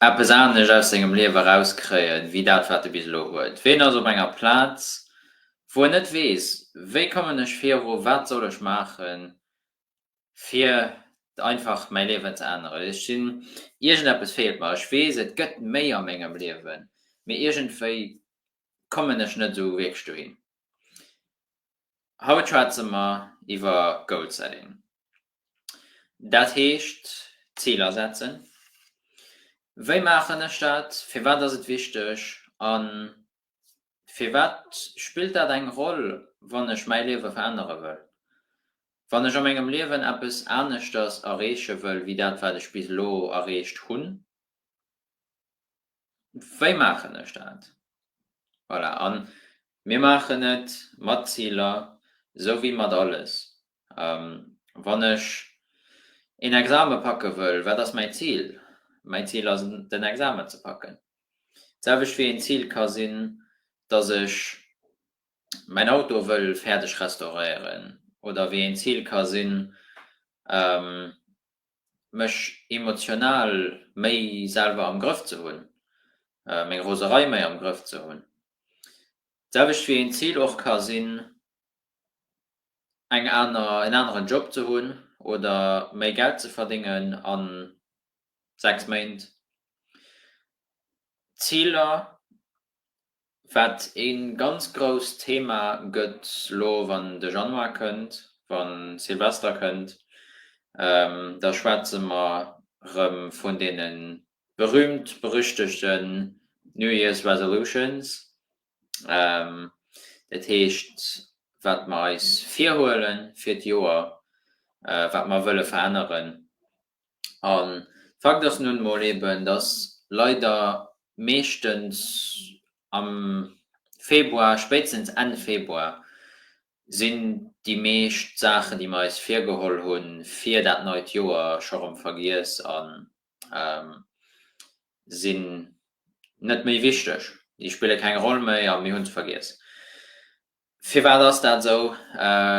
Eppes anescht aus sengem Liewe erauskréien, wéi dat, wat e bis elo huet. Ween ass op enger Plaz, wou en net weess, Wéi kommen ech viru? Wat soll ech maachen? fir einfach mäi Liewen ze änneren. Ech sinn, iergendeppes feelt mer. Ech weess, et gëtt méi a mengem Liewen, mee iergendwéi kommen ech net esou wierklech dohin. Haut schwätze mer iwwer Goal Setting. Dat heescht Ziler setzen. Wéi maachen ech dat? Firwat ass et wichteg? A Firwat spillt dat eng Roll, wann ech mäi Liewe verännere wëll? Wann ech a mengem Liewen eppes aneschters erreeche wëll wéi dat, wat ech bis elo erreecht hunn, wéi maachen ech dat? Voilà. A mir maachen et mat Ziler, esou wéi mat alles. Wann ech een Exame packe wëll, wat ass mäi Zil? Mäi Zil ass den Examen ze packen. D'selwecht wéi een Zil ka sinn, datt ech mäin Auto wëll fäerdeg restauréieren oder wéi een Zil ka sinn, mech emotional méi selwer am Grëff ze hunn, meng Roserei méi am Grëff ze hunn. D'selwecht wéi een Zil och ka sinn, eng aner, en aneren Job ze hunn oder méi Geld ze verdéngen a 6 Méint. Ziler, wat ee ganz grousst Thema gëtt elo wann de Januar kënnt, wann Silvester kënnt, da schwätze mer erëm vun deene berühmt berüchtegten New Year's Resolutions, Dat heescht, wat mer eis virhuele fir d'Joer, wat mer wëlle veränneren. A Fakt ass nun emol eben, dass leider meeschtens am Februar, spéitstens Enn Februar, sinn déi meescht Saachen, déi mer eis virgeholl hu fir dat neit Joer, scho rëm vergiess a sinn net méi wichteg, déi spille keng Roll méi a mir hunn se vergiess. Firwat ass dat esou?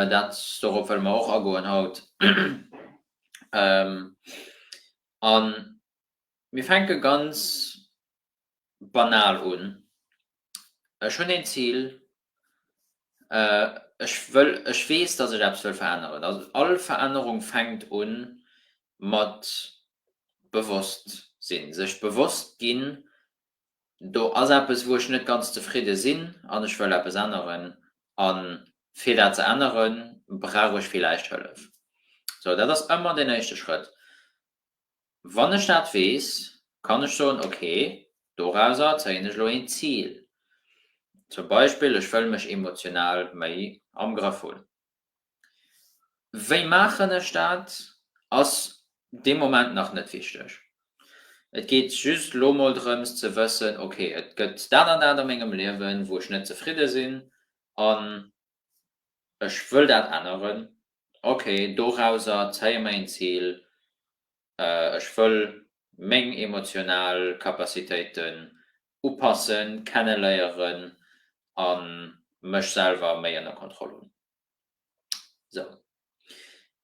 Dat, dorop wëlle mer och agoen haut. A mir fänke ganz banal un. Ech hunn een Zil, ech wëll, ech weess, dass ech eppes wëll veränneren. Also all Verännerung fänkt u mat Bewosstsinn, sech bewosst ginn, do ass eppes, wou ech net ganz zefridde sinn an ech wëll eppes änneren. A fir dat ze änneren, brauch ech villäicht Hëllef. Sou, dat ass ëmmer deen éischte Schrëtt. Wann ech dat weess, kann ech soen, ok, dorauser zéien ech elo een Zil, zum Beispill, ech wëll mech emotional méi am Grëff hunn. Wéi maachen ech dat, ass dee Moment nach net wichteg. Et geet just elo mol drëms ze wëssen, ok, et gëtt dat an dat a mengem Liewen, wou ech net zefridde sinn, an ech wëll dat änneren, ok, dorauser zéie mer een Zil, ech wëll meng emotional Capacitéiten upassen, kenneléieren a mech selwer méi ënner Kontroll hunn. Sou,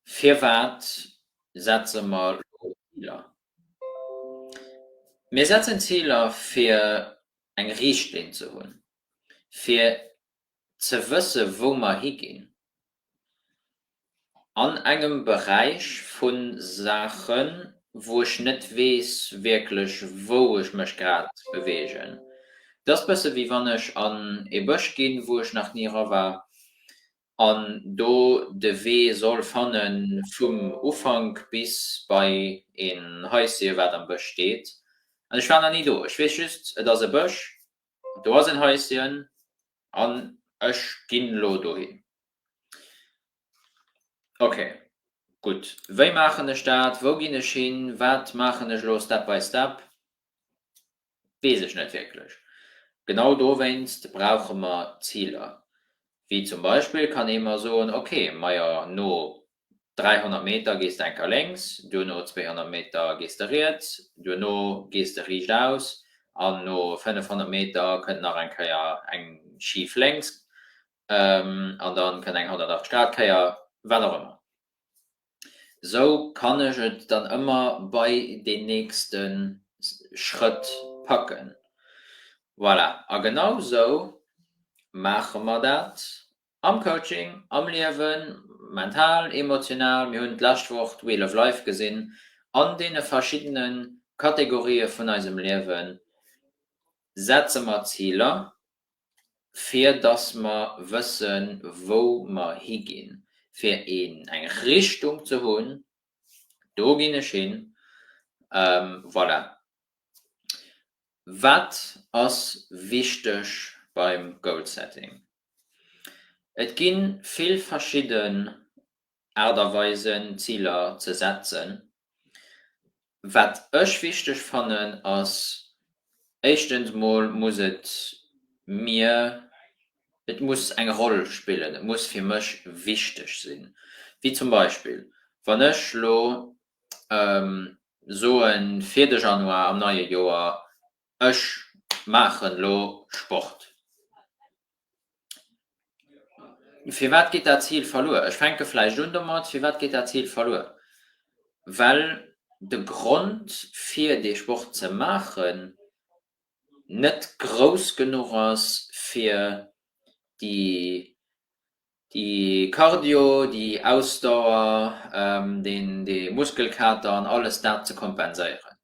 firwat setze mer elo Ziler? Mir setzen Ziler fir eng Richtlinn ze hunn, fir Ze wësse wou mer higinn an engem Beräich vu Saachen, wou ech net weess wierklech wou ech mech grad beweegen. Et ass bësse wéi wann ech an ee Bësch ginn, wou ech nach ni era war an do de Wee soll fanne vum Ufank bis bei een Haisje wat am Bësch steet. An ech war nach ni do. Ech weess just et ass e Bësch Do ass en Häischen an ech ginn elo dohin. Ok, gutt. Wéi maachen ech dat? Wou ginn ech hin? Wat maachen ech elo Step by Step? Weess ech net wierklech. Genau dowéinst brauche mer Ziler. Wéi zum Beispill kann ee mer soen, ok, majo, no 300 Meter gees de enker lénks, duerno 200 Meter gees de riets, duerno gees de riicht aus an no 500 Meter kënnt nach eng Kéier eng schif lénks an da kënnt eng 180 Grad Kéier, wat och ëmmer. Esou kann ech et dann ëmmer bei deen nächste Schrëtt packen. Voilà, a genau esou maache mer dat Am Coaching, am Liewen, mental, emotional, mir hunn d'lescht Woch d'Wheel of Life gesinn, an deene verschiddene Kategorië vun eisem Liewe setze mer Ziler, fir dass mer wësse wou mer higinn, fir eng Richtung ze hunn, do ginn ech hin, voilà. Wat ass wichteg beim Goal-Setting? Et gi vill verschidden Aart a Weisen, Ziler ze setzen. Wat ech wichteg fannen, ass éischtens mol muss et mir, et muss eng Roll spillen, et muss fir mech wichteg sinn. Wéi zum Beispill, wann ech elo soen, fir de Januar am neie Joer Ech maachen lo Sport. Firwat geet dat Zil verluer? Ech fänke vläicht un domat, firwat geet dat Zil verluer? Well de Grond fir dee Sport ze maachen net grouss genuch ass fir déi déi Cardio, déi Ausdauer, dee Muskelkater an alles dat ze kompenséieren.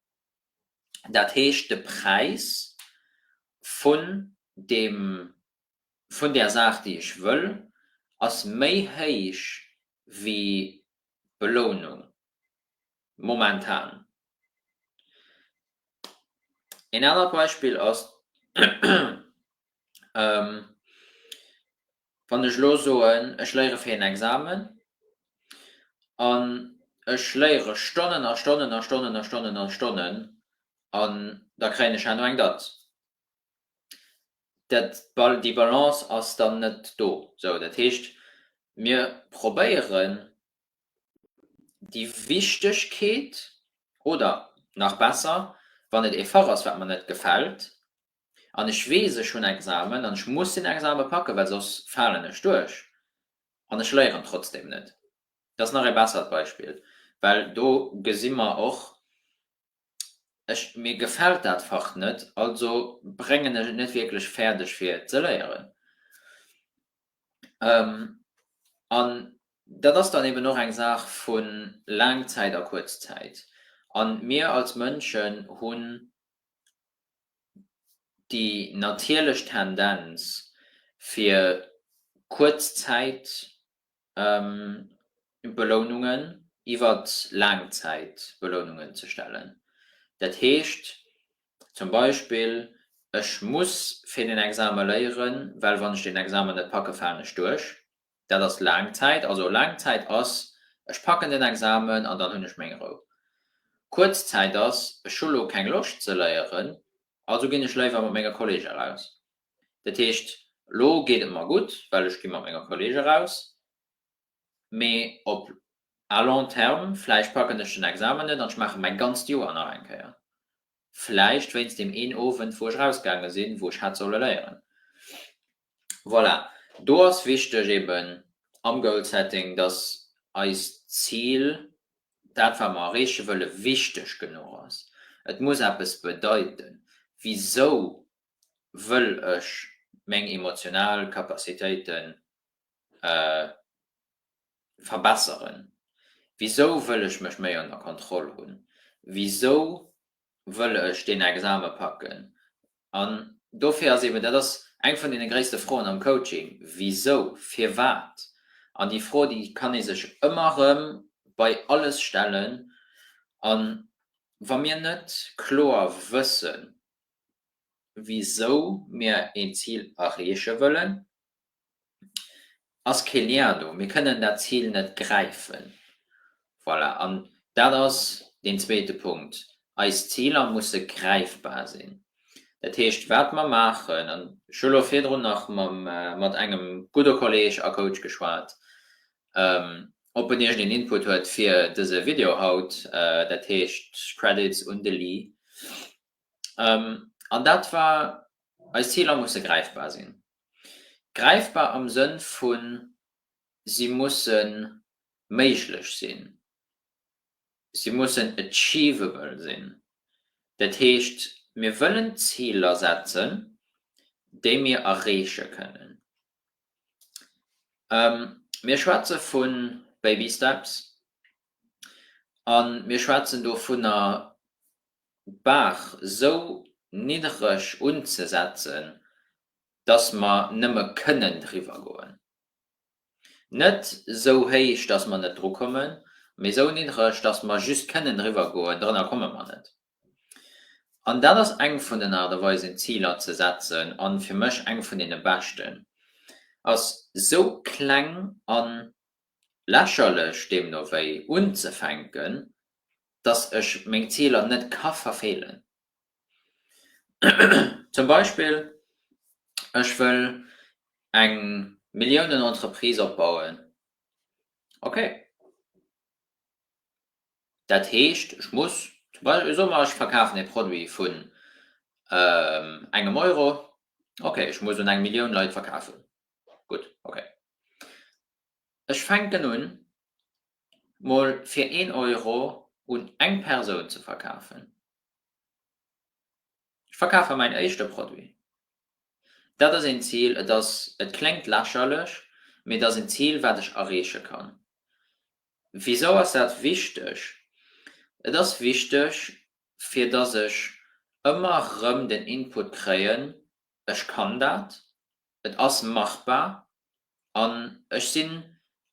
dat heescht de Präis vun deem, vun där Saach, déi ech wëll, ass méi héich wéi d'Belounung momentan. Een anert Beispill ass, Wann ech elo soen, ech léiere fir een Examen an ech léiere Stonnen a Stonnen a Stonnen a Stonnen a Stonnen an da kréien ech herno eng Datz, dat, déi Balance ass dann net do. Sou, dat heescht, mir probéieren déi Wichtegkeet oder, nach besser, wann et ee Fach ass, wat mer net gefält, an ech weess ech hunn Examen an ech muss den Exame packen, well soss falen ech duerch an ech léieren trotzdem net. Dat ass nach ee bessert Beispill, well do gesi mer och, ech, mir gefält dat Fach net, also bréngen ech et net wierklech fäerdeg fir et ze léieren. An dat ass dann eben och eng Saach vu Laangzäit a Kuerzzäit. A mir als Mënschen hunn déi natierlech Tendenz fir Kuerzzäitbelounungen iwwer Laangzäitbelounungen ze stellen. Dat heescht zum Beispill, ech muss fir den Exame léieren, well wann ech den Examen net packe falen ech duerch. Dat ass laang Zäit. Also laang Zäit ass, ech packen den Examen an dann hunn ech meng Rou. Kuerz Zäit ass, ech hu lo keng Loscht ze léieren, also ginn ech léiwer mat menge Kollege raus. Dat heescht, lo geet et mer gutt, well ech gi mat menge Kollege raus, mee op à long terme, vläicht packen ech den Examen net an ech maache mäi ganzt Joer nach eng Kéier. vläicht wéinst deem een Owend wou ech rausgaange sinn, wou ech hätt solle léieren. Voilà, do ass wichteg eben am Goal Setting, datt eist Zil, dat wat mer erreeche wëlle wichteg genuch ass. Et muss eppes bedeiten, wisou wëll ech meng emotional Capacitéiten verbesseren? Wisou wëll ech mech méi ënner Kontroll hunn? Wisou wëll ech deen Exame packen? An dofir ass eben, dat ass eng vun deene gréisste Froen am Coaching, Wisou? Firwat? An déi Fro, déi kann ee sech ëmmer erëm bei alles stellen. A wa mir net kloer wëssen, wisou mir een Zil erreeche wëllen, ass kee Lien do, mir kënnen dat Zil net gräifen. Voilà, an dat ass deen zweete Punkt, eis Ziler musse gräifbar sinn. Dat heescht, wat mer maachen, an ech hu elo virdrun nach mat engem gudde Kolleeg a Coach geschwat, ob en iergendeen Input huet fir dëse Video haut, dat heescht Credits un de Lee. An dat war, eis Ziler musse gräifbar sinn. Gräifbar am Sënn vu si musse méiglech sinn, si mussen achievable sinn. Dat heescht, mir wëllen Ziler setzen, déi mir erreeche kënnen. Mir schwätze vu baby steps a mir schwätzen dovunner, d'Baach esou niddereg unzesetzen, dass mer nëmme kënnen driwwer goen. Net sou héich, dass mer net dru kommen, mee sou niddreg, dass mer just kënnen driwwer goen. Drënner komme mer net. An dat ass eng vun den Aart a Weisen, Ziler ze setzen, a fir mech eng vun deene beschten, ass sou kleng a lächerlech deemno wéi unzefänken, dass ech meng Ziler net ka verfeelen. Zum Beispill, ech wëll eng Milliounen-Entreprise opbauen. Okay. Dat heescht, ech muss, soe mer, ech verkafen e Produit vun engem Euro. Okay, ech muss un eng Millioun Leit verkafen. Gutt, okay. Ech fänken un, mol fir een Euro un eng Persoun ze verkafen. Ech verkafe mäin éischte Produit. Dat ass een Zil, et ass, et kléngt lächerlech, mee et ass en Zil, wat ech erreeche kann. Wisou ass dat wichteg? Et ass wichteg, fir dass ech ëmmer erëm den Input kréien, ech kann dat, et ass machbar an ech sinn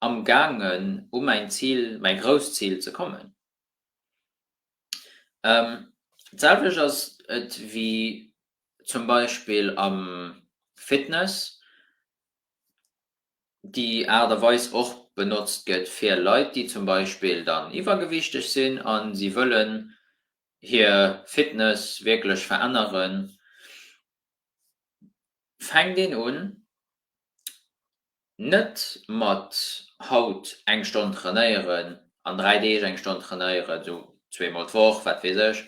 amgaangen, u mäin Zil, mäi grousst Zil ze kommen. D'selwecht ass et wéi zum Beispill am Fitness, déi Aart a Weis och benotzt gëtt fir Leit, déi zum Beispill dann iwwergewichteg sinn a si wëllen hir Fitness wierklech veränneren, fänkt een un Net mat haut eng Stonn trainéieren an 3 Deeg eng Stonn trainéieren, esou zweemol d'Woch, wat weess ech.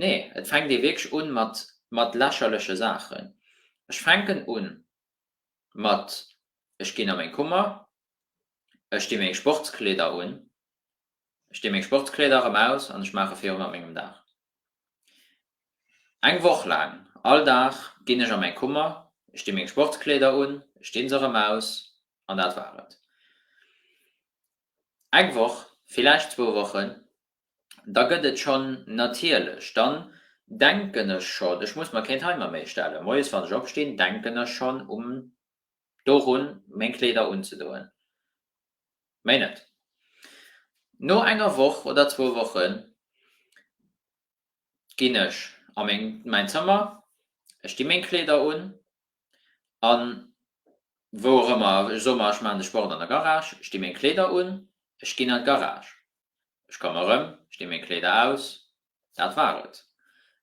Nee, et fänkt ee wierklech un mat mat lächerleche Saachen. Ech fänken un mat, ech ginn a meng Kummer, ech di meng Sportskleeder un, Ech dee meng Sportskleeder erëm aus an ech maache virun mat mengem Dag. Eng Woch laang, all Dag, ginn ech a mäi Kummer, ech dee meng Sportskleeder un, ech dee se erëm aus an dat war et. Eng Woch, villäicht zwou Wochen, da gëtt et schonn natierlech. Dann denken ech schonn, ech muss mer keen Timer méi stellen, moies wann ech opstinn, denken ech schonn um dorun, meng Kleeder unzedoen. Méi net. No enger Woch oder zwou Woche ginn ech a mäin Zëmmer, ech di meng Kleeder un a wou och ëmmer, ech soe mer ech maachen de Sport an der Garage, ech di meng Kleeder un, ech ginn an d'Garage, ech komme rëm, ech di meng Kleeder aus, Dat war et.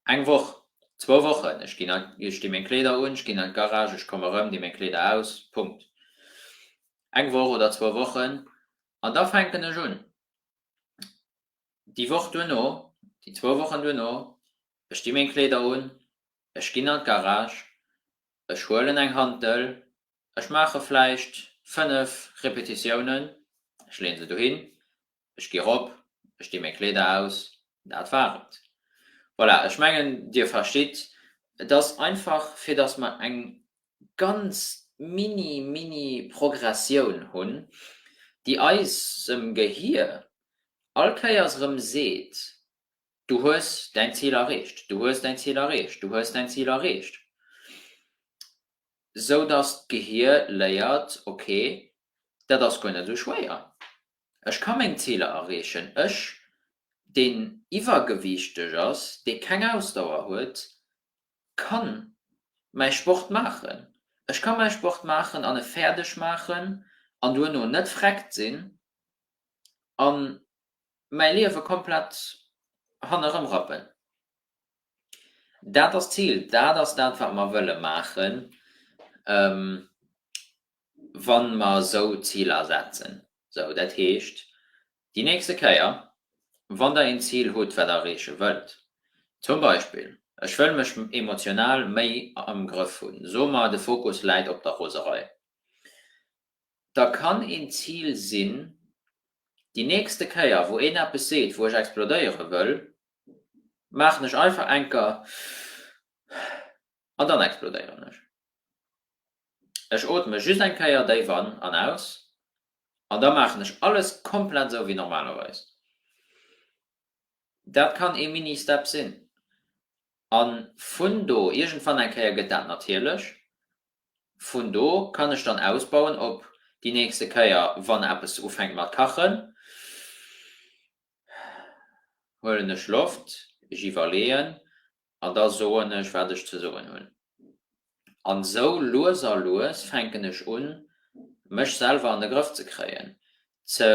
Eng Woch, zwou Wochen, ech ginn, ech di meng Kleeder un, ech ginn an d'Garage, ech komm erëm, di meng Kleeder aus. Punkt. Eng Woch oder zwou Wochen, an da fänken ech un, di Woch duerno, di zwou Wochen duerno, ech di meng Kleeder un, ech ginn an d'Garage, ech huelen eng Hantel, ech maache vläicht fënnef Repetitiounen, ech leeën se dohin, Ech gi rop, ech dee meng Kleeder aus, dat war et. Voilà, ech mengen, Dir verstitt, et ass einfach, fir dass mer eng ganz mini, mini Progressioun hunn, déi eisem Gehier all Kéiers erëm seet, Du hues däin Zil erreecht, du hues däin Zil erreecht, du hues däin Zil erreecht. Sou dass d'Gehier léiert, Okay, dat ass guer net esou schwéier. Ech ka meng Ziler erreechen. Ech, deen iwwergewiichteg ass, dee keng Ausdauer huet, ka mäi Sport maachen. Ech ka mäi Sport maachen an e fäerdeg maachen an duerno net vreckt sinn a mäi Liewe komplett hannerëm rappen. Dat ass d'Zil. Dat ass dat, wat mer wëlle maachen. Wa mer esou Ziler setzen, esou, dat heescht, déi nächste Kéier, wann Der een Zil hutt, wat Der erreeche wëllt, zum Beispill, ech wëll mech emotional méi am Grëff hunn, soe mer, de Fokus läit op der Roserei, da kann een Zil sinn, déi nächste Kéier, wou een eppes seet, wou ech explodéiere wëll, maachen ech einfach enker. an dann explodéieren ech. Ech ootme just eng Kéier déif an an aus an da maachen ech alles komplett esou wéi normalerweis. Dat kann ee Mini-Step sinn an vun do, iergendwann eng Kéier gëtt dat natierlech, vun do kann ech dann ausbauen op déi nächste Kéier, wann eppes ufänkt mat kachen, huelen ech Loft, ech iwwerleeën An da soen ech, wat ech ze soen hunn. An esou lues a lues fänken ech un, mech selwer an de Grëff ze kréien, ze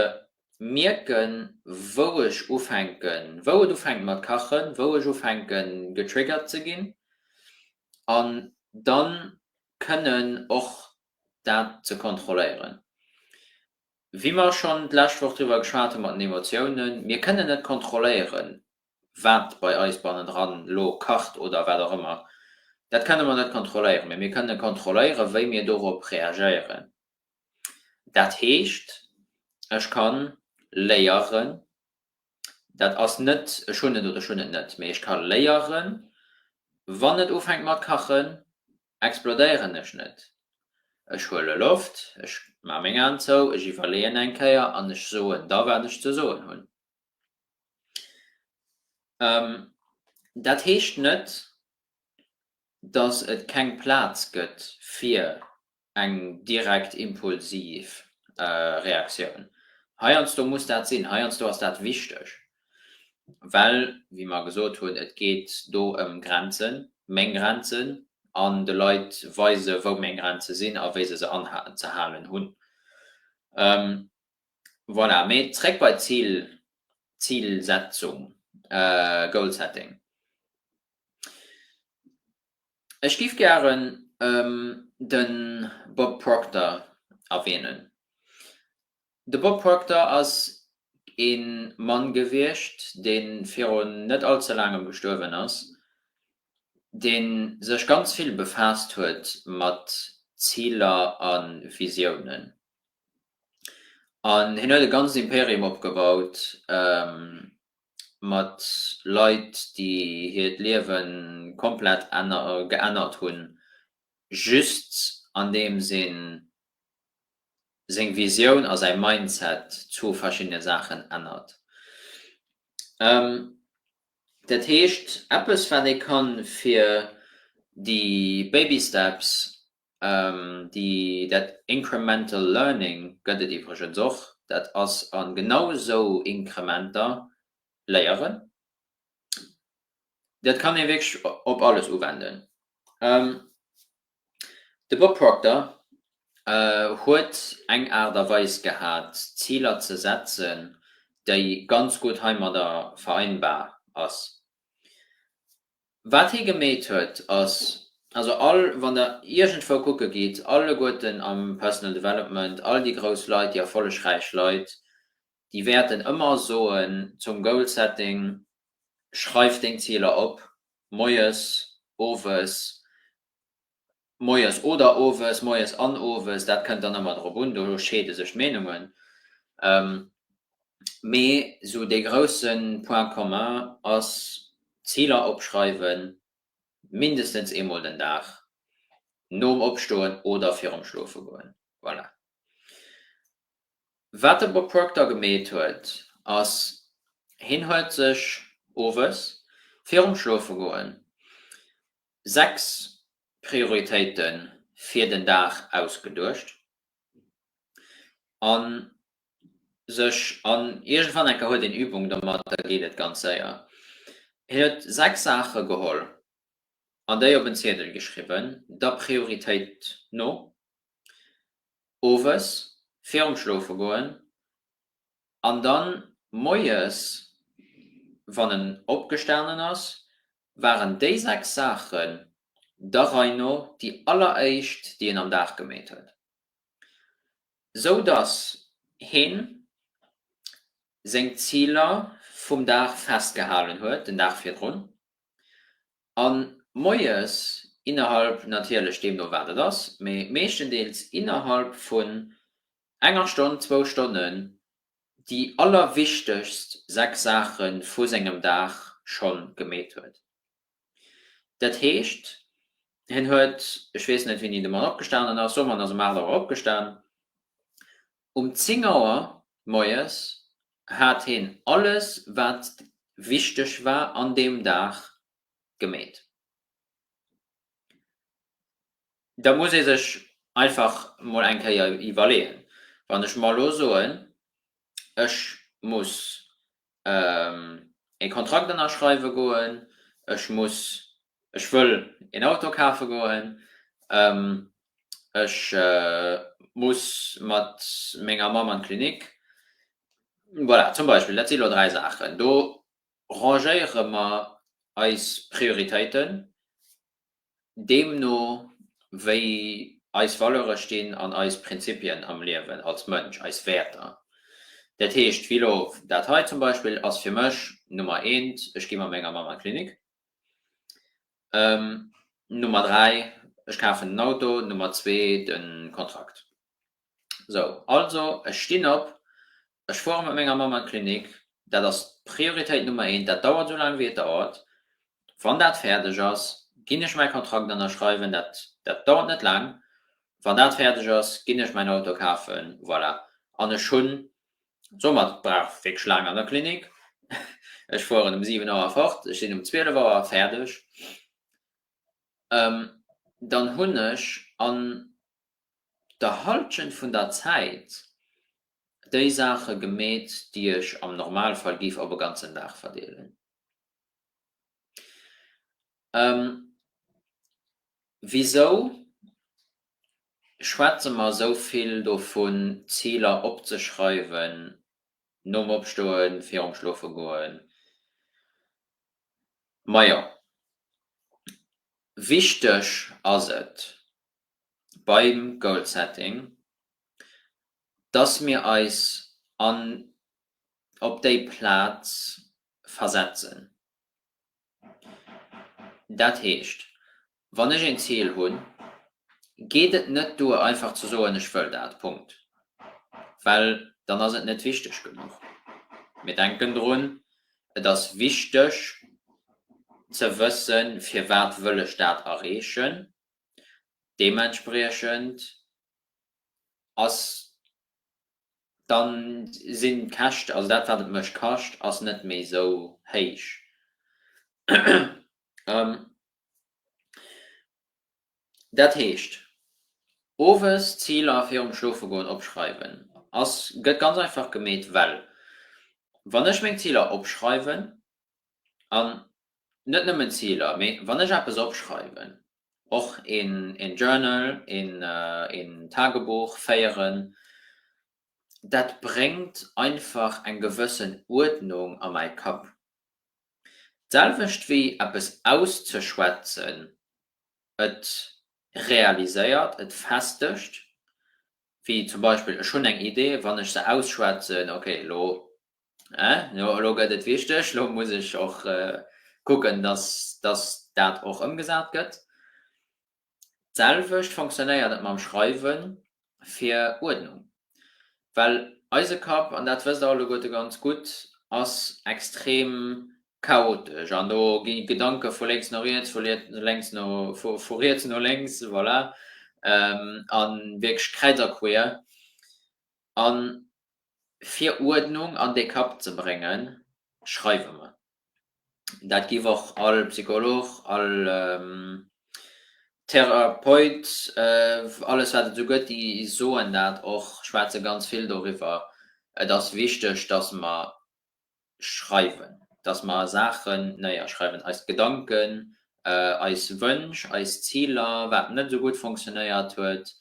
mierken, wou ech ufänken, wou et ufänkt mat kachen, wou ech ufänke getriggert ze ginn, an da kënnen och dat ze kontrolléieren. Wéi mer schonn d'lescht Woch driwwer geschwat hu mat den Emotiounen, mir kënnen net kontrolléieren, wat bei eis bannendran elo kacht oder wat och ëmmer, dat kënne mer net kontrolléieren, mee mir kënne kontrolléieren, wéi mir dorop reagéieren. Dat heescht, ech ka léieren, dat ass net, ech hunn et oder ech hunn et net, mee ech ka léieren, Wann et ufänkt mat kachen, explodéieren ech net. Ech huele Loft, ech maache meng Aen zou, ech iwwerleeën eng Kéier an ech soen da, wat ech ze soen hunn. Dat heescht net, datt et keng Plaz gëtt fir eng direkt impulsiv Reaktioun. Heiansdo muss dat sinn, heiansdo ass dat wichteg, well, wéi mer gesot hunn, et geet do ëm Grenzen, meng Grenzen, an de Leit weisen, wou meng Grenze sinn a wéi se se anhalen, ze halen hunn. Voilà, mee zréck bei d'Zil, Zilsetzung, goal setting. Ech giff gären den Bob Proctor erwähnen. De Bob Proctor ass een Mann gewiescht, deen virun net all ze laangem gestuerwen ass, deen sech ganz vill befaasst huet mat Ziler an Visiounen. An hien huet e ganzt Imperium opgebaut mat Leit, déi hiert Liewe komplett geännert hunn, just andeems ee seng Visioun a säi Mindset, zwou verschiddene Saachen, ännert. Dat heescht, eppes, wat ee ka fir déi Baby Steps Dat incremental learning gëtt et iwwregens och, dat ass a genau esou Inkrementer léieren. Dat kann ee wierklech op alles uwenden. De Bob Proctor huet eng Aart a Weis gehat, Ziler ze setzen, déi ganz gutt heimadder vereinbar ass. Wat hie gemeet huet ass, also all, wann der iergendwou kucke gitt, alleguerten am Personal Development, all déi grouss Leit, déi erfollegräich Leit, déi wäerten ëmmer soen zum Goal Setting, schreif deng Ziler op, moies, owes, moies oder owes, moies an owes, dat kënnt dann ëmmer drop un, do scheede sech d'Meenungen, mee esou dee grousse Point commun ass, Ziler opschreiwe mindestens eemol den Dag, nom Opstoen oder virum Schlofegoen. Voilà. Wat de Bob Proctor gemeet huet, ass, hien huet sech owes virum Schlofegoen sechs Prioritéite fir den Dag ausgeduecht a sech an iergendwann enker huet een Übung domat, da geet et ganz séier. Hien huet sechs Saache geholl an déi op en Ziedel geschriwwen, der Prioritéit no, owes virum Schlofegoen an da moies, wann en opgestanen ass, waren déi sechs Saachen der Rei no déi alleréischt, déi en am Dag gemeet huet, sou dass hien seng Ziler vum Dag festgehalen huet, den Dag virdrun a moies innerhalb, natierlech deemno wat et ass, mee meeschtendeels innerhalb vun enger Stonn, zwou Stonnen déi allerwichtegst sechs Saache vu sengem Dag scho gemeet huet. Dat heescht, hien huet, ech weess net, wéini de Mann opgestanen ass, soe mer, en ass ëm aacht Auer opgestan, um zéng Auer moies hat hien alles, wat wichteg war an deem Dag, gemeet. Da muss ee sech einfach mol eng Kéier iwwerleeën, Wann ech mer elo soen, ech muss ee Kontrakt ënnerschreiwe goen, ech muss, ech wëll een Auto kafe goen, ech muss mat menger Mamm an d'Klinik, voilà, zum Beispill, dat si elo dräi Saachen, do Rangéiere mer eis Prioritéiten deemno wéi eis Valeure stinn an eis Prinzipien am Liewen als Mënsch, eis Wäerter. Dat heescht wéi elo dat hei zum Beispill ass fir mech Nummer eent, ech gi mat menger Mamm an d'Klinik, Nummer dräi, ech kafen en Auto, Nummer zwee, de Kontrakt. Sou, also ech stinn op, Ech fuere mat menger Mamm an d'Klinik. Dat ass d'Prioritéit Nummer eent. Dat dauert esou laang, wéi et dauert. Wann dat fäerdeg ass, ginn ech mäi Kontrakt ënnerschreiwen. Dat, dat dauert net laang. Wann dat fäerdeg ass, ginn ech mäin Auto kafen. Voilà. An ech hunn d'Sommer, brauch wierklech laang an der Klinik. Ech fueren um siwen Auer fort, ech sinn um zwielef Auer fäerdeg. Dann hunn ech an der Halschent vun der Zäit déi Saache gemeet, déi ech am Normalfall géif op e ganzen Dag verdeelen. Wisou schwätze mer esou vill dovun, Ziler opzeschreiwen nom Opstoen, virum Schlofegoen? Majo, wichteg ass et beim Goal-Setting, dass mir eis an op déi Plaz versetzen. Dat heescht, wann ech een Zil hunn, geet et net duer einfach ze soen, ech wëll dat, Punkt, well dann ass et net wichteg genuch. Mir denken drun, et ass wichteg ze wëssen, firwat wëll ech dat erreechen, deementspriechend ass, dann sinn d'Käscht, also dat wat et mech kascht, ass net méi esou héich. Dat heescht, owes Ziler virum Schloofegoen opschreiwen ass, gëtt ganz einfach gemeet, well wann ech meng Ziler opschreiwen, an net nëmmen Ziler, mee wann ech eppes opschreiwen, och een Journal, een Tagebuch féieren, dat bréngt einfach eng gewëssen Uerdnung a mäi Kapp. D'selwecht wéi eppes auszeschwätzen, et realiséiert, et festegt, Wéi zum Beispill, ech hunn eng Idee, wann ech se ausschwätzen, okay, elo, elo, elo gëtt et wichteg, elo muss ech och kucken, dass, dass dat och ëmgesat gëtt. D'selwecht fonctionnéiert et mam Schreiwe fir Uerdnung. Well eise Kapp, an dat wësst der alleguerte ganz gutt, ass extrem Chaotesch, an do ginn d'Gedanke vu lénks no riets, vu riets no, vu riets no lénks, voilà, a wierklech kräiz a queer. A fir Uerdnung an dee Kapp ze bréngen, schreiwe mer. Dat giff och all Psycholog, all Therapeut, alles wat et esou gëtt, déi soen dat och, schwätze ganz vill doriwwer, et ass wichteg, dass mer schreiwen, dass mer Saachen néierschreiwen, eis Gedanken, eis Wënsch, eis Ziler, wat net esou gutt funktionéiert huet,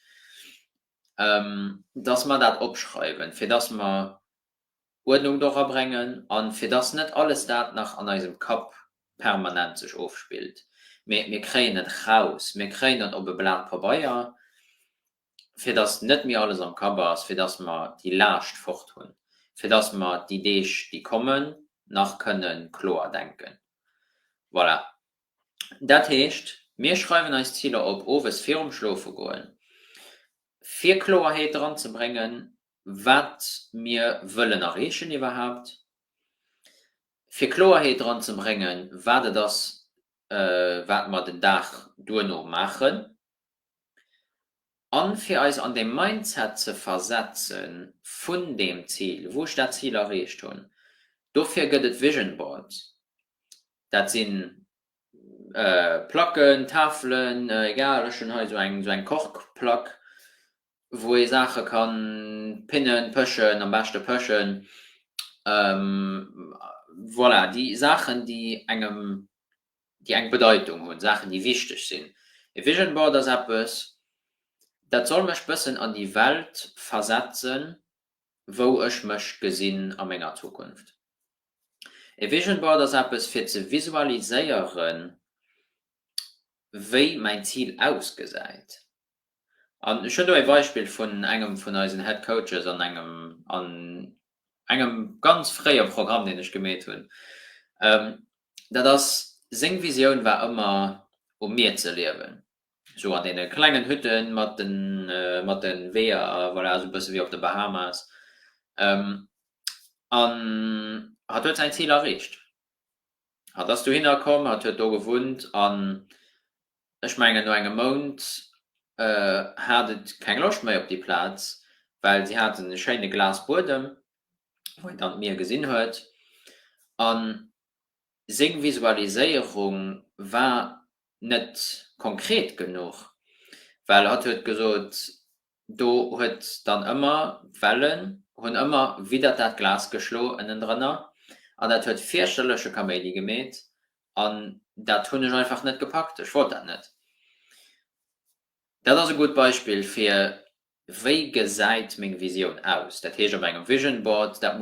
dass mer dat opschreiwen, fir dass mer Uerdnung dora bréngen a fir dass net alles dat nach an eisem Kapp permanent sech ofspillt, mee mir kréien et raus, mir kréien et op e Blat Pabeier fir dass net méi alles am Kapp ass, fir dass mer déi Laascht fort hunn, fir dass mer déi Deeg, déi kommen, nach kënne kloer denken. Voilà. Dat heescht, mir schreiwen eis Ziler op owes virum Schlofegoen, fir Kloerheet dran ze bréngen, wat mir wëllen erreechen iwwerhaupt, fir Kloerheet dran ze bréngen, wat et ass, wat mer den Dag duerno maachen. An fir eis an dee Mindset ze versetzen vun deem Zil, wou ech dat Zil erreecht hunn, dofir gëtt et Vision Boards. Dat si Placken, Tafelen, egal, ech hunn hei esou eng, esou eng Korkplack, wou ee Saache kann pinnen, pëschen, am beschte pëschen, voilà, déi Saachen, déi engem déi eng Bedeitung hunn, Saachen, déi wichteg sinn. E Vision Board ass eppes, dat soll mech bëssen an déi Welt versetzen, wou ech mech gesinn a menger Zukunft. E Vision Board ass eppes, fir ze visualiséieren, wéi mäin Zil ausgesäit. An ech hunn do ee Beispill vun engem vun eisen Head Coaches an engem an engem ganz fréie Programm, deen ech gemeet hunn. Dat ass, seng Visioun war ëmmer, um Mier ze liewen, esou an deene klengen Hütte mat de mat de Weeër, voilà, esou e bësse wéi op de Bahamas. An hatt huet säin Zil erreecht. Hatt ass dohinner komm, hatt huet do gewunnt an Ech mengen no engem Mount hat et keng Loscht méi op déi Plaz, well si haten e schéine glas Buedem, wou een dann d'Mier gesinn huet. A seng Visualiséierung war net konkret genuch, well hatt huet gesot, Do huet dann ëmmer Wellen hunn ëmmer widdert dat Glas geschlo ënnendrënner an dat huet fierchterleche Kaméidi gemeet an dat hunn ech einfach net gepackt. Ech wollt dat net. Dat ass e gutt Beispill fir wéi gesäit meng Visioun aus. Dat heescht op engem Vision Board, dat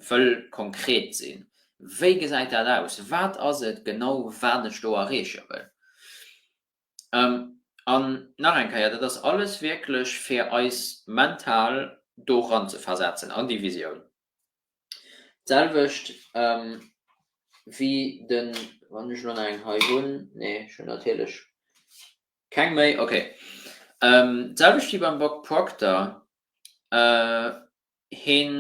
wëll konkret sinn, wéi gesäit dat aus, wat ass et genau wat ech do erreeche wëll. An nach eng Keier, dat ass alles wierklech fir eis mental do ranzeversetzen an déi Visioun. D'selwecht wéi de, wann ech elo nach eng hei hunn, nee ech hunn natierlech keng méi, okay, d'selwecht wéi beim Bob Proctor, hien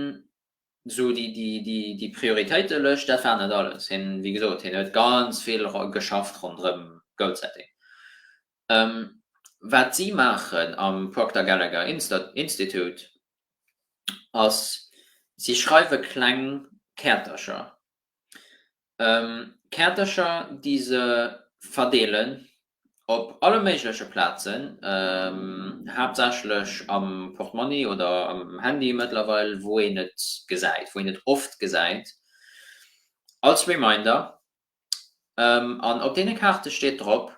Sou déi Prioritéitelëscht, dat war net alles. Hien, wéi gesot, hien huet ganz vill geschafft ronderëm Goalsetting. Wat si maachen am Procter Gallagher Institute ass, si schreiwe kleng Käertercher, Kaartercher déi se verdeelen op alle méigleche Plazen, haaptsächlech am Portmonni oder am Handy mëttlerweil, wou een et gesäit, wou een et oft gesäit, als Reminder. An op deene Kaarte steet drop,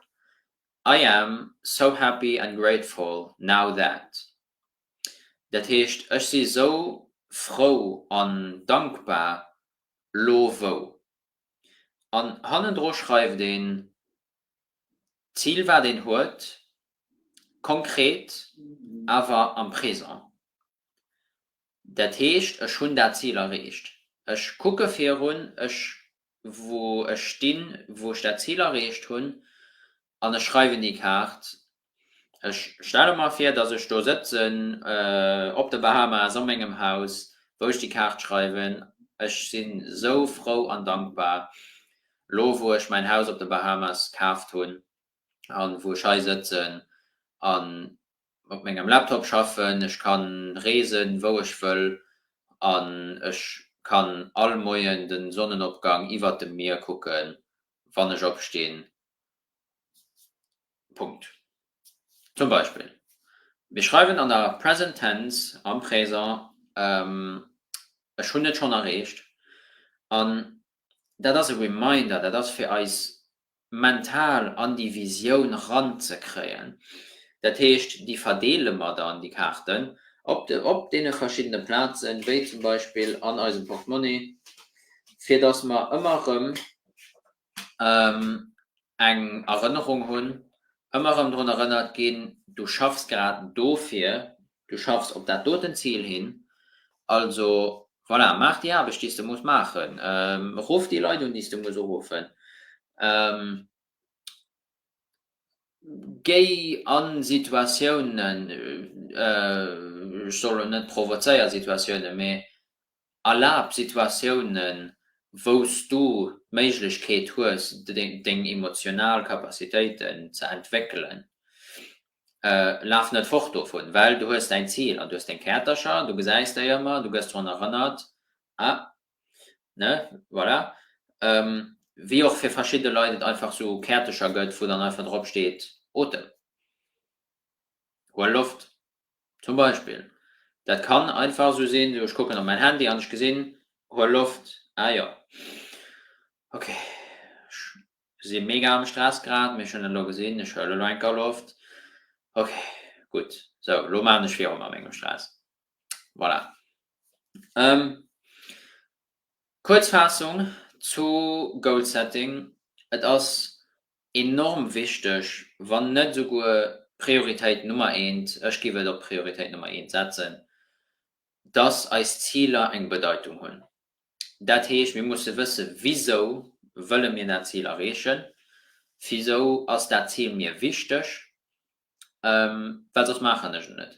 I am so happy and grateful now that. Dat heescht, ech si sou frou an dankbar, lo wou. An hannendru schreift een d'Zil wat een huet, konkret awer am Présent. Dat heescht, ech hunn dat Zil erreecht, ech kucke virun, ech wou ech stinn, wou ech dat Zil erreecht hunn, an ech schreiwen déi Kaart. Ech stelle mer vir, datt ech do sëtzen op de Bahamas a mengem Haus, wou ech déi Kaart schreiwen, ech si sou frou an dankbar, lo wou ech mäin Haus op de Bahamas kaaft hunn a wou ech hei sëtzen an op mengem Laptop schaffen, ech kann reesen wou ech wëll an ech kann all Moien den Sonnenopgang iwwert dem Mier kucken wann ech opstinn. Punkt. Zum Beispill, mir schreiwen an der Present Tense am Présent, ech hunn et schonn erreecht an dat ass e Reminder, dat ass fir eis mental an déi Visioun ranzekréien. Dat heescht, déi verdeele mer dann, déi Kaarten, op deene verschiddene Plazen, wéi zum Beispill an eisem Portemonnaie, fir dass mer ëmmer erëm eng Erënnerung hunn, ëmmer erëm drun erënnert ginn, du schaffs grad dofir, Du schaffs op dat doten Zil hin. Also, voilà, maach déi Aarbecht, déi s de muss maachen. Ruff déi Leit un, déi s de muss uruffen. Géi a Situatiounen, ech soll elo net provozéier Situatiounen, mee Erlab Situatiounen, wou s du d'Méiglechkeet hues, deng emotional Capacitéiten ze entwéckelen. Laf net fort dovun, well du hues däin Zil an du hues deng Käertercher, du gesäis déi ëmmer, du gëss drun erënnert, a ne, voilà. Wéi och fir verschidde Leit et einfach esou Käertercher gëtt, wou dann einfach drop steet, Otem, huel Loft. Zum Beispill, dat kann einfach esou sinn, ech kucken op mäin Handy an ech gesinn, huel Loft, ah jo, ok, ech si mega am Stress grad, mee ech hunn et elo gesinn, ech huelen elo eng Kau Loft, ok, gutt, sou, elo maachen ech virun mat mengem Stress. Voilà. Kuerz Faassung zu Goal Setting, Et ass Enorm wichteg, wann net esouguer d'Prioritéit Nummer eent, ech giff et op d'Prioritéit Nummer eent setzen, dass eis Ziler eng Bedeitung hunn. Dat heescht, mir musse wësse wisou wëlle mir dat Zil erreechen, wisou ass dat Zil mir wichteg, well soss maachen ech et net.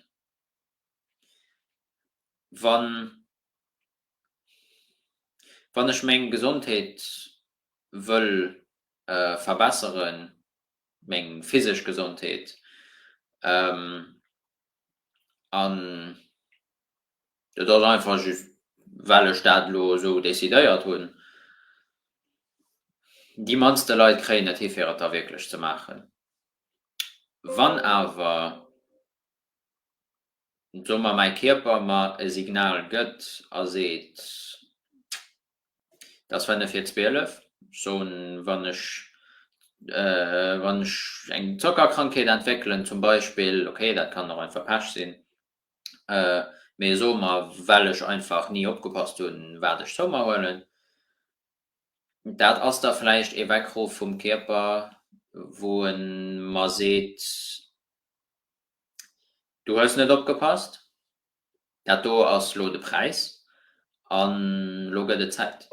Wann ech meng Gesondheet wëll verbesseren, meng physesch Gesondheet an dat ass einfach just well ech dat elo esou decidéiert hunn. Déi mannste Leit kréien et hi fir et da wierklech ze maachen. Wann awer, soe mer, mäi Kierper mer e Signal gëtt a seet, Et ass fënnef vir zwielef, soen, wann ech, wann ech eng Zockerkrankheet entwéckelen zum Beispill, ok, dat kann och einfach Pech sinn, mee soe mer, well ech einfach ni opgepasst hunn, wat ech zou mer huelen, dat ass da vläicht ee Weckruff vum Kierper, wou e mer seet, du hues net opgepasst. Dat do ass lo de Präis an lo gëtt et Zäit.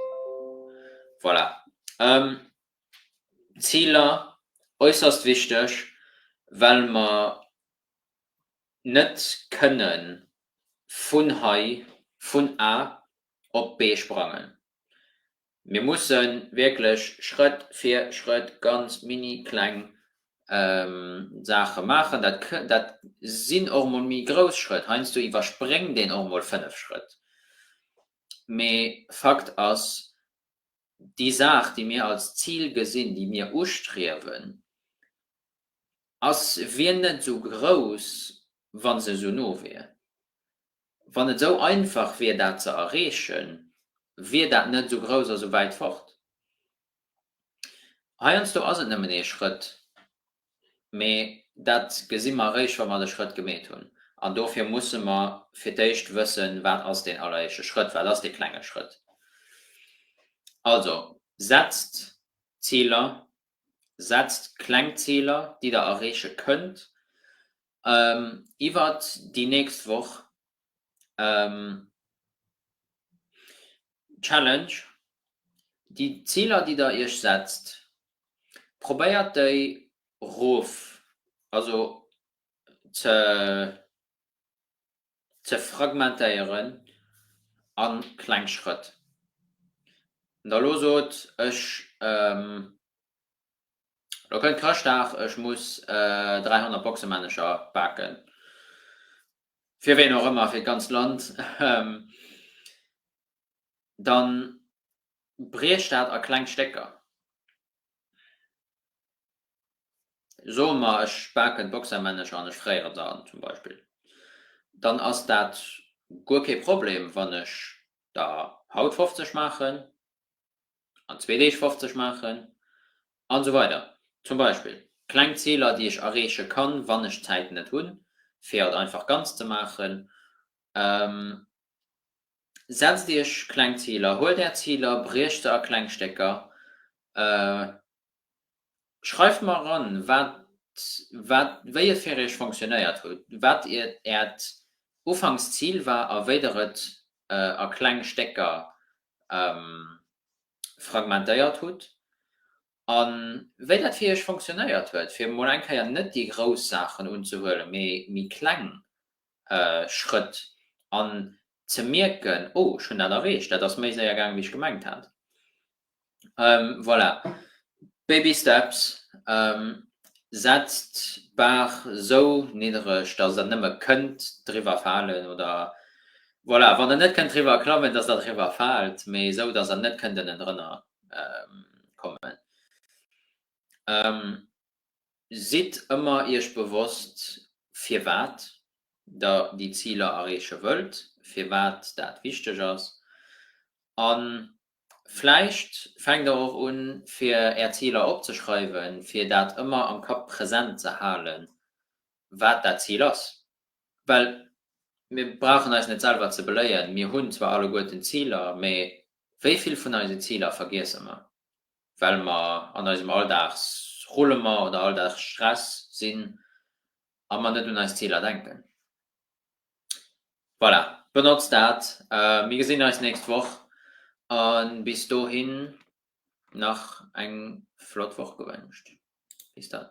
Voilà. Ziler, äusserst wichteg, well mer net kënne vun hei, vun A op B sprangen. Mir musse wierklech Schrëtt fir Schrëtt ganz mini kleng Saache maachen. Dat sinn och mol méi grouss Schrëtt. Heiansdo iwwerspréngt een och mol fënnef Schrëtt. Mee Fakt ass, déi Saach, déi mir als Zil gesinn, déi mir ustriewen, ass, wier net esou grouss, wa se esou no wier. Wann et esou einfach wier dat ze erreechen, wier dat net esou grouss a sou wäit fort. Heiansdo ass et nëmmen ee Schrëtt, mee dat gesi mer eréischt wa mer de Schrëtt gemeet hunn. An dofir musse mer fir d'éischt wëssen, wat ass deen alleréischte Schrëtt, wat ass dee klenge Schrëtt. Also, setzt Ziler, setzt kleng Ziler déi der erreeche kënnt, iwwert déi nächst Woch d'Challenge, déi Ziler déi der iech setzt, probéiert déi rof, also ze ze fragmentéieren a kleng Schrëtt. An da lo sot, ech Lo kënnt Chrëschtdag, ech muss 300 Boxemänncher baken, fir ween och ëmmer, fir d'ganzt Land, da briech dat a kleng Stécker, soe mer ech baken d'Boxermännecher an ech fréieren se an zum Beispill, dann ass dat guer kee Problem, wann ech der haut 50 maachen, an zwee Deeg 50 maachen an esou weider zum Beispill kleng Ziler déi ech erreeche kann wann ech Zäit net hunn fir et einfach ganz ze maachen. Setzt iech kleng Ziler, huelt är Ziler, briecht se a kleng Stécker, Schreift mer eran, wat wat wéi et fir iech fonctionnéiert hutt, wat iert äert ufanks Zil war a wéi der et a kleng Stécker fragmentéiert hutt a wéi dat fir iech fonctionnéiert huet, fir mol eng Kéier net déi grouss Saachen unzehuelen, mee méi kleng Schrëtt an ze mierken, oh ech hunn dat erreecht, dat ass méi séier gaang wéi ech gemengt hat. Voilà, baby steps, setzt d'Bar esou niddereg, dass der nëmme kënnt driwwer falen oder voilà, wann der net kënnt driwwer klammen, dass der driwwer faalt, mee esou, dass der net kënnt ënnendrënner kommen. Sidd ëmmer iech bewosst, firwat der déi Ziler erreeche wëllt, firwat dat wichteg ass an Vläicht fänkt der och un, fir Är Ziler opzeschreiwen, fir dat ëmmer am Kapp present ze halen, wat dat Zil ass. Well mir brauchen eis net selwer ze beléien, mir hunn zwar alleguerten Ziler, mee wéi vill vun eise Ziler vergiesse mer, well mer an eisem Alldagsrullement oder Alldagsstress sinn a mer net un eis Ziler denken? Voilà, benotzt dat. Mir gesinn eis nächst Woch a bis dohin nach eng flott Woch gewënscht. Bis dann.